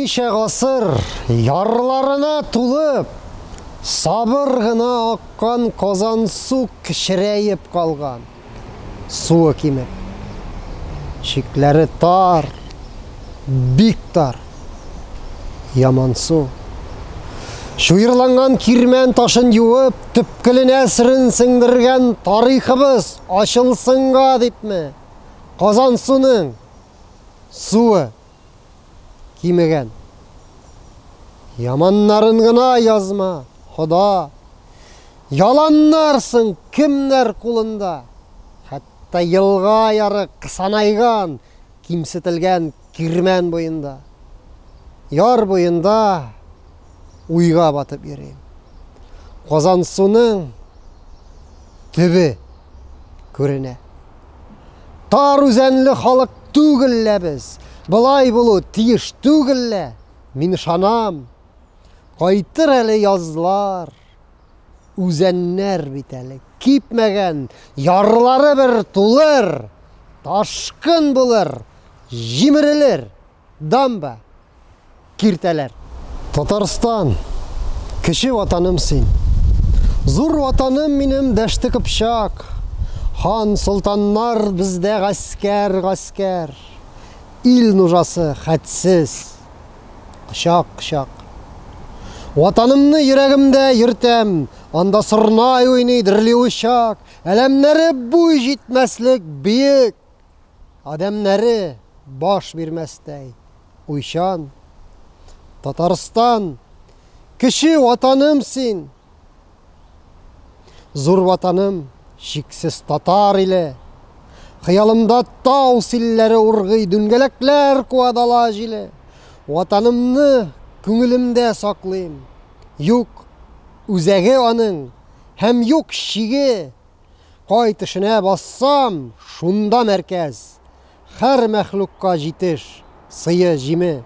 ничә гасыр ярларына тулып, сабыр гына аккан Казансу кечерәеп калган. Суы кимек. Чикләре тар. Бик тар. Ямансу. Чуерланган кирмән ташын юып, төпкеленә сырын сеңдергән тарихыбыз ачылсынга дипме? Казансуның суы кимегән. Яманнарын гына язма, Хода. Яланнарсың кемнәр кулында. Хәтта елга ярык санайган, кимсетелгән кирмән буенда. Яр буенда уйга батып йөрим. Казансуның төбе күренә. Тар үзәнле халык түгел лә без. Болай булу тиеш түгел лә. Мин ышанам. Кайтыр әле язлар. Үзәннәр бит әле кипмәгән, ярлары бер тулыр, ташкын булыр, җимерелер. дамба, киртәләр. Татарстан, кече ватаным син. Зур ватаным минем Дәште Кыпчак. Хан, солтаннар бездә гаскәр, гаскәр. Ил нужасы хәтсез, кочак, кочак. Ватанымны йөрәгемдә йөртәм, анда сорнай уйный, дерли учак. Әләмнәре буй җитмәслек биек, Адәмнәре баш бирмәстәй уйчан. Татарстан, кече ватаным син! Зур ватаным, чиксез татар иле! Хыялымда тау силләре ургый, дүнгәләкләр куа дала җиле. Ватанымны күңелемдә саклыйм. Юк үзәге аның һәм юк чиге! Кай тешенә бассам, шунда мәркәз. Хәр мәхлукка җитеш, сые, җиме.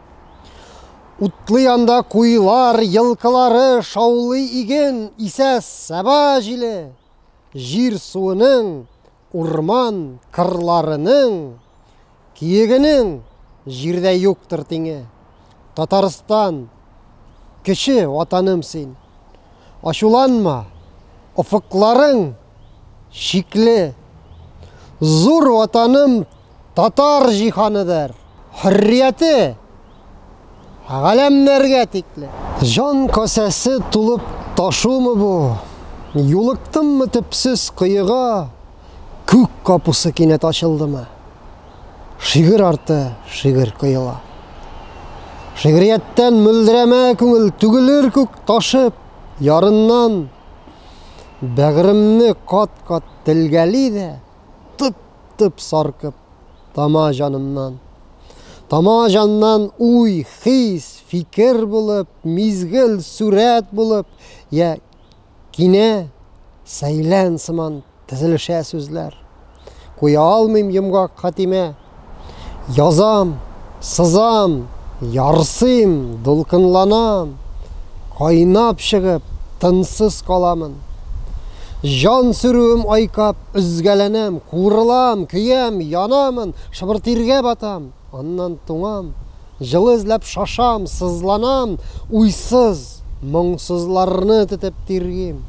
Утлый анда куйлар, елкылары, шаулый иген, исә саба җиле. Җир суының, урман, кырларының Киегенең җирдә юктыр тиңе. Татарстан, кече ватаным син. Ачуланма, офыкларың чикле. Зур ватаным татар җиһаныдыр. Хөррияте Галәмнәргә тикле. Җан касәсе тулып ташумы бу? Юлыктыммы төпсез коега, Күк капусы кинәт ачылдымы? Шигырь арты шигырь коела. Шигърияттән мөлдерәмә күңел Түгелер күк ташып, ярыннан. Бәгыремне кат-кат телгәли дә, Тып-тып саркып тама җанымнан. Тамаң җаннан уй, хис, фикер булып, мизгел, сурәт булып, я кинә, сәйлән сыман тезелешә сүзләр. Куя алмыйм йомгак хатимә. Язам, сызам, ярсыйм, дулкынланам, кайнап чыгып, тынсыз каламын. Җан сүрүем айкап, өзгәләнәм, куырылам, көям, янамын, Чыбыр тиргә батам, аннан туңам, Җылы эзләп шашам, сызланам, Уйсыз, моңсызларны тетеп тиргим,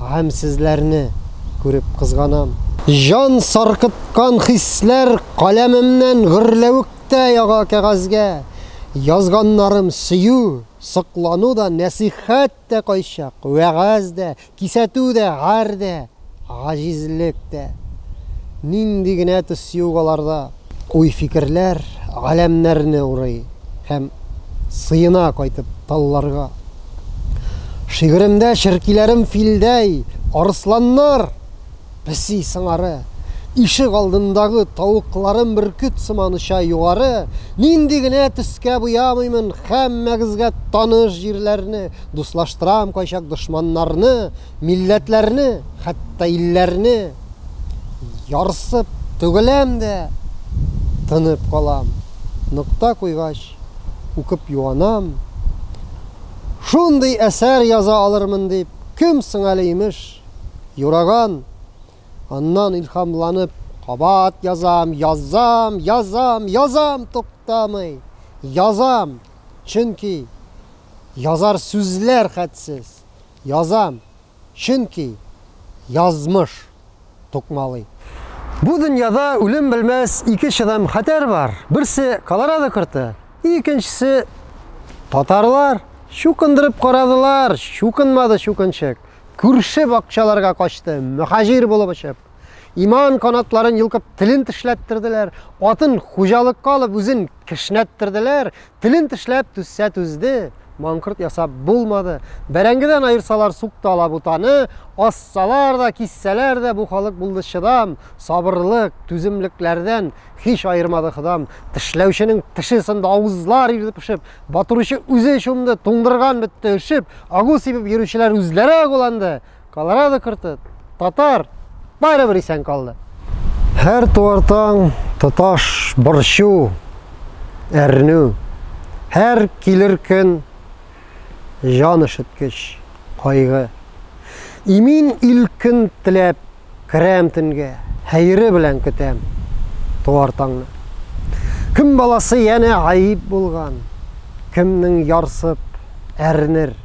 Гамьсезләрне күреп кызганам. Җан саркыткан хисләр каләмемнән Гөрләвектә яга кәгазьгә. Язганнарым сөю, соклану да, Нәсыйхәт тә кайчак, вәгазь дә, Кисәтү дә, гар дә, гаҗизлек тә. Нинди генә төс юк аларда. Уй-фикерләр галәмнәрне урый. Һәм сыена кайтып талларга. Шигыремдә черкиләрем филдәй, арысланнар! Песи сыңары, ишек алдындагы тавыкларым бөркет сыман оча югары, нинди генә төскә буямыймын, һәммәгезгә таныш җирләрне, дуслаштырам кайчак дошманнарны, милләтләрне, хәтта илләрне. Ярсып түгеләм дә, тынып калам. Нокта куйгач, укып юанам. Шундый әсәр яза алырмын дип, кем соң әле, имеш. юраган. Аннан илһамланып, кабат язам, язам, язам, язам туктамый. Язам, чөнки язар сүзләр хәтсез. Язам, чөнки язмыш тукмалый. Бу дөньяда үлем белмәс ике чыдам хәтәр бар. Берсе Колорадо корты, икенчесе татарлар. Чукындырып карадылар, чукынмады чукынчык. Күрше бакчаларга качты, мөхаҗир булып очып. Иман канатларын йолкып, телен тешләттерделәр, атын хуҗалыкка алып, үзен кешнәттерделәр, телен тешләп түзсә түзде, маңкорт ясап булмады. Бәрәңгедән аерсалар сукты ала бутаны, ассалар да, киссәләр дә бу халык булды чыдам, сабырлык, түземлекләрдән Һич аермады ходам, тешләүченең теше сынды авызлар ирде пешеп, батыручы үзе чумды, туңдырган бетте өшеп, агу сибеп йөрүчеләр үзләре агуланды. Колорадо корты, татар, барыбер исән калды. Һәр туар таң тоташ борчу, әрнү. Һәр килер көн җан өшеткеч кайгы. Имин ил көн теләп, Керәм төнгә, хәере белән көтәм туар таңны. Кем баласы янә гаип булган, кемнең ярсып әрнер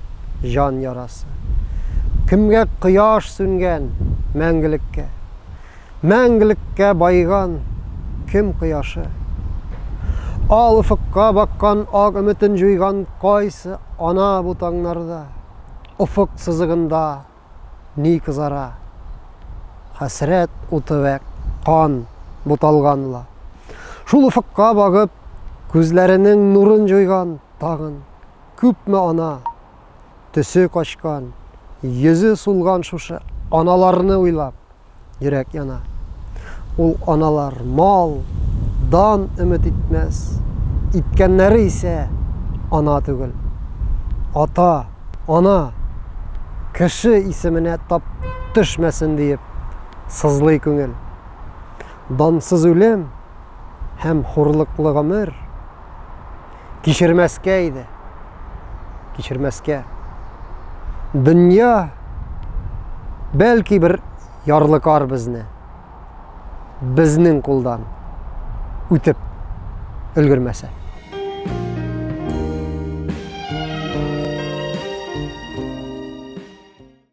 җан ярасы. Кемгә кояш сүнгән мәңгелеккә, мәңгелеккә байган кем кояшы. Ал офыкка баккан ак өметен җуйган кайсы ана бу таңнарда, офык сызыгында Ни кызара? Хәсрәт уты вә кан буталган ла. Шул офыкка багып, күзләренең нурын җуйган тагын күпме ана! Төсе качкан, йөзе сулган шушы аналарны уйлап, йөрәк яна. Ул аналар мал, дан өмет итмәс, иткәннәре исә ана түгел. Ата, ана, кеше исеменә тап төшмәсен диеп сызлый күңел. Дансыз үлем һәм хурлыклы гомер Кичермәскә иде. Кичермәскә. Дөнья бәлки бер ярлыкар безне безнең кулдан үтеп өлгермәсә.